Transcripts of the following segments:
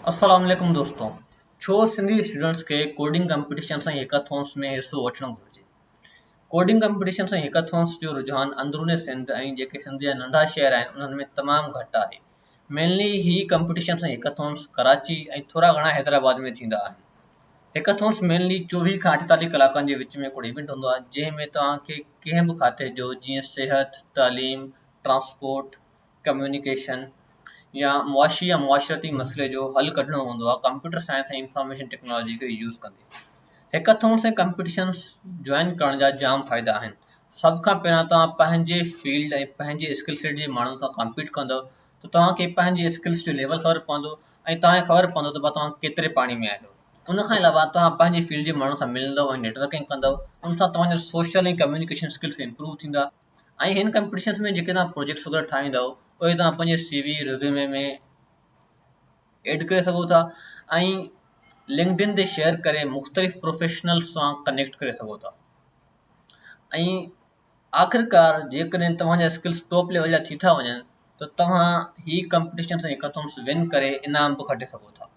اسلام عليڪم دوستو ڇو سنڌي اسٽوڊنٽس کي ڪوڊنگ ڪمپٽيشن سان هيڪاٿونس ۾ حصو وٺڻ گهرجي ڪوڊنگ ڪمپٽيشن سان هيڪاٿونس جو رجحان اندرون سنڌ ۽ جيڪي سنڌ جا ننڍا شهر آهن انهن ۾ تمام گهٽ آهي مينلي هي ڪمپٽيشن سان هيڪاٿونس ڪراچي ۽ ٿورا گهڻا حيدرآباد ۾ ٿيندا آهن هيڪاٿونس مينلي چوويهه کان اٺيتاليهه ڪلاڪن جي وچ ۾ هڪڙو ايونٽ هوندو آهي جنهن ۾ توهان کي ڪنهن به کاتي جو جيئن صحت تعليم ٽرانسپورٽ ڪميونيڪيشن يا معاشي يا معاشرتي مسئلي جو حل ڪڍڻو هوندو آهي ڪمپيوٽر سائنس ۽ انفارميشن ٽيڪنالاجي کي يوز ڪندي هيڪاٿون سين ڪمپٽيشن جوائن ڪرڻ جا جام فائدا آهن سڀ کان پهريان توهان پنهنجي فيلڊ ۽ پنهنجي اسڪل سيٽ جي ماڻهن سان ڪمپيٽ ڪندو ته توهان کي پنهنجي اسڪلس جو ليول خبر پوندو ۽ توهان کي خبر پوندو ته بابا توهان ڪيتري پاڻي ۾ آهيو ان کان علاوه توهان پنهنجي فيلڊ جي ماڻهن سان ملندو ۽ نيٽورڪنگ ڪندو ان سان توهان جو سوشل ۽ ڪميونيڪيشن اسڪلس امپروو ٿيندا ۽ هن ڪمپٽيشنس ۾ جيڪي توهان پروجيڪٽس وغيره ٺاهيندا اهو اهي توهان پنهنجي سي وي رزيومي ۾ ايڊ ڪري سگهو ٿا ۽ لنڪڊن تي شيئر ڪري مختلف پروفيشنل سان ڪنيڪٽ ڪري سگهو ٿا ۽ آخرڪار جيڪڏهن توهانجا اسڪلس ٽاپ ليول جا ٿي ٿا وڃن ته توهان هي ڪمپٽيشنس ۽ هيڪاٿونس ون ڪري انعام به کٽي سگهو ٿا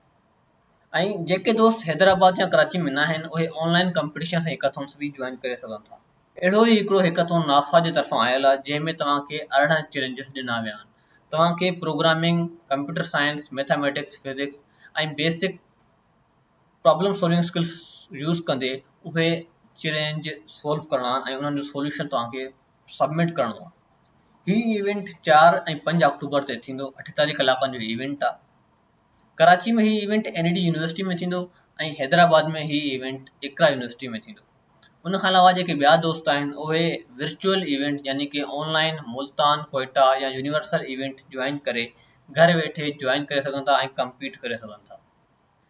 ۽ جيڪي دوست حيدرآباد يا ڪراچي ۾ ناهن اهي آن لائن ڪمپٽيشنز ۽ هيڪاٿونز به جوائن ڪري سگهن ٿا اهڙو ئي هڪڙو هيڪاٿون ناسا جي طرفان آيل آهي جنهن ۾ توهان کي ارڙهن چئلينجز ڏنا ويا آهن توهان کي programming computer science mathematics physics ۽ basic problem solving skills use ڪندي اهي چئلينج سالو ڪرڻا آهن ۽ انهن جو سوليوشن توهان کي سبمٽ ڪرڻو آهي هي ايونٽ چار ۽ پنج آڪٽوبر تي ٿيندو اٺيتاليهه ڪلاڪن جو ايونٽ آهي ڪراچي ۾ هي event N E D university ۾ ٿيندو ۽ حيدرآباد ۾ هي ايونٽ اقرا يونيورسٽي ۾ ٿيندو ان کان علاوه جيڪي ٻيا دوست آهن اهي ورچوئل ايونٽ يعني ڪي آن لائن ملتان ڪوئٽا يا يونيورسل ايونٽ جوائن ڪري گهر ويٺي جوائن ڪري سگهن ٿا ۽ ڪمپيٽ ڪري سگهن ٿا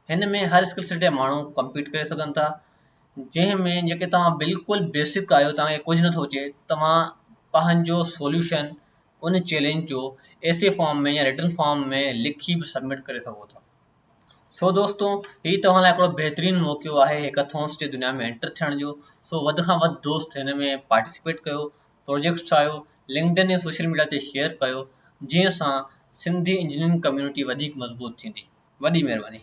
هن ۾ هر اسڪل سيٽ جا ماڻهو ڪمپيٽ ڪري سگهن ٿا جنهن ۾ جيڪي توهان بلڪل بيسڪ آهيو توهان کي ڪجهه نٿو اچي توهان پنهنجو سوليوشن ان چئلينج جو ايسي فارم ۾ يا رٽن فارم ۾ لکي به سبمٽ ڪري سگهو ٿا سو دوستو هي توهان لاء هڪڙو بهترين موقعو آهي هيڪاٿونس جي دنيا ۾ انٽر ٿيڻ جو سو وڌ کان وڌ دوست هن ۾ پارٽيسپيٽ ڪيو پروجيڪٽس ٺاهيو لنڪڊن ۽ سوشل ميڊيا تي شيئر ڪيو جنهن سان سنڌي انجنيئرنگ ڪميونٽي وڌيڪ مضبوط ٿيندي وڏي مهرباني